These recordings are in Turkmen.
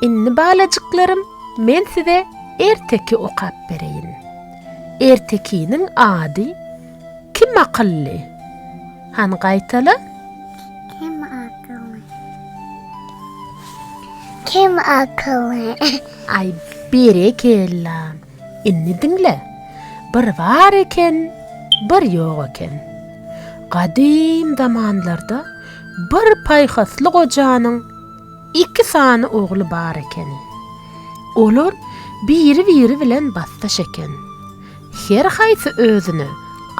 Indi balajyklarym, men size erteki okap bereýin. Ertekiniň ady Kim akylly? Han gaýtala. Kim akylly? Kim akylly? Ay berekella. Indi diňle. Bir bar eken, bir ýok eken. Gadym zamanlarda bir paýhasly gojanyň iki sany ogly bar ekeni. Olar biri-biri bilen basdaş eken. Her haýsy özüne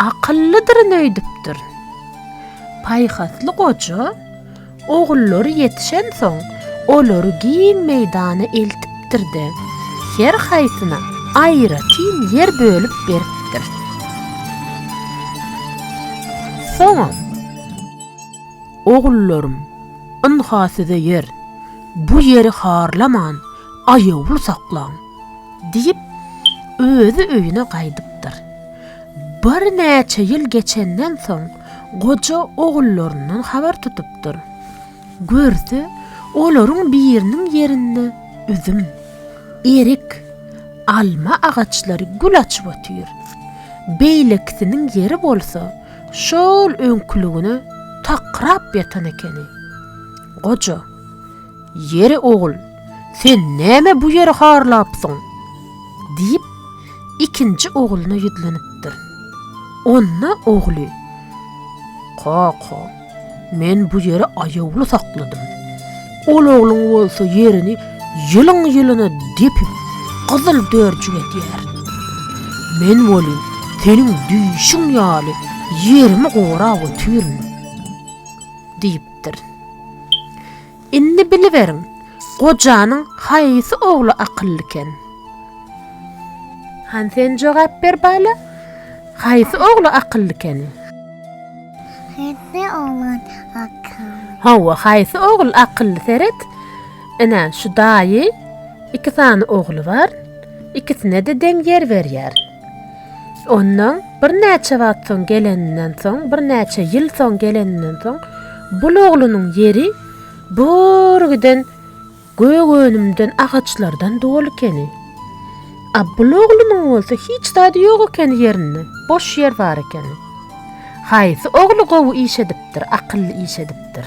akyllydyryn öýdüpdir. Paýhasly goja. Ogullary ýetişensoň, olary giň meýdana eltipdir-de, her haýsyna aýratyn ýer bölüp beripdir. Soňam, Ogullarym, ynha size ýer. Bu ýeri harlaman, aýawly saklaň! diýip, özi öýüne gaýdypdyr. Birnäçe ýyl geçenden soň, goja ogullaryndan habar tutupdyr. Görse, olaryň biriniň ýerinde üzüm, erik, alma agaçlary gül açyp otyr. Beýlekisiniň ýeri bolsa şol öňküligine takrap ýatan ekeni. Goja, Ýeri ogul, sen näme bu ýeri harlapsyň? diýip, ikinji ogluna ýüzlenipdir. Onda ogly, Kaka, men bu ýeri aýawly sakladym. Ol ogluň bolsa ýerini ýylyň-ýylyna depip, gyzyl dörjük edýär. Men welin seniň düýşüň ýaly ýerimi gorap otyryn, diýipdir. diýipdir. Indi biliberiň, gojanyň haýsy ogly akyllykän? Han sen jogap ber bala, haýsy ogly akyllykän? Haýsy oglan akylly? Hawa, haýsy ogul akylly seret. Ine, şu daýy iki sany ogly bar. Ikisine-de deň ýer berýär. Ondan birnäçe wagt soň geleninden soň, birnäçe ýyl soň geleninden soň, bul oglunyň ýeri bor giden gök önümden, agaçlardan doly ekeni. A bul oglunyň bolsa hiç zady ýok ekeni ýerinde, boş ýer bar ekeni. Haýsy ogly gowy iş edipdir, akylly iş edipdir?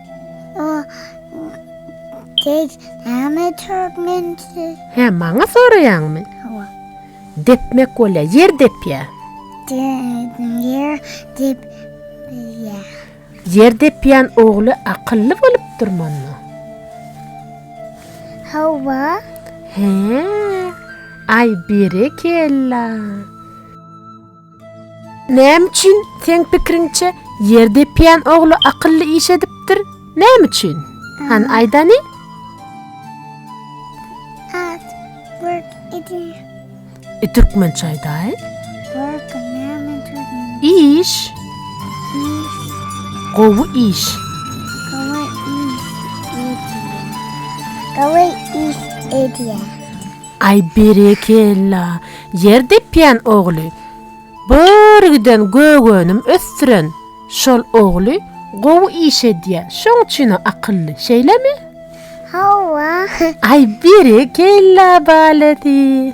Hä, maňa soraýaňmy? Depmek bolýar, ýer depýär. Ýer depýän ogly akylly bolupdyrmyna? Hä, aý berekella. Näme üçin, seň pikiriňçe, ýer depýän ogly akylly iş edipdir? Näme üçin? Han, aýdany? At, work, idi. E, türkmençe aýdaý. Work, näme türkmençe? Iş. Iş. Gowy iş. Gowy iş edýär. Gowy iş edýär. Aý berekella, ýer depýän ogly. Bir giden gögönüm ösdüren şol ogly gowy iş edýä, şoň üçin-ä akylly, şeýlemi? Hawa. Aý berekella balesi.